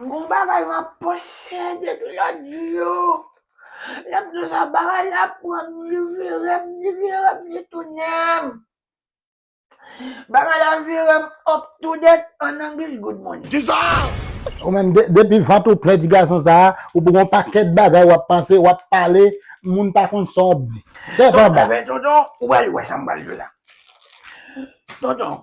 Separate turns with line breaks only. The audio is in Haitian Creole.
Gon bagay m ap panse depi lòt jou, lè m sou sa bagay la pran m, li vire m, li vire m, li tounen m. Bagay la vire m up to date an anglish good morning. Dissolve! Ou
menm depi vant ou plen ti gason sa a, ou pou gon pakèt bagay w ap panse, w ap pale, moun pa konn sa w ap di. Tèt anba! Tonton,
ou pral wè sa m pral di w la. Tonton,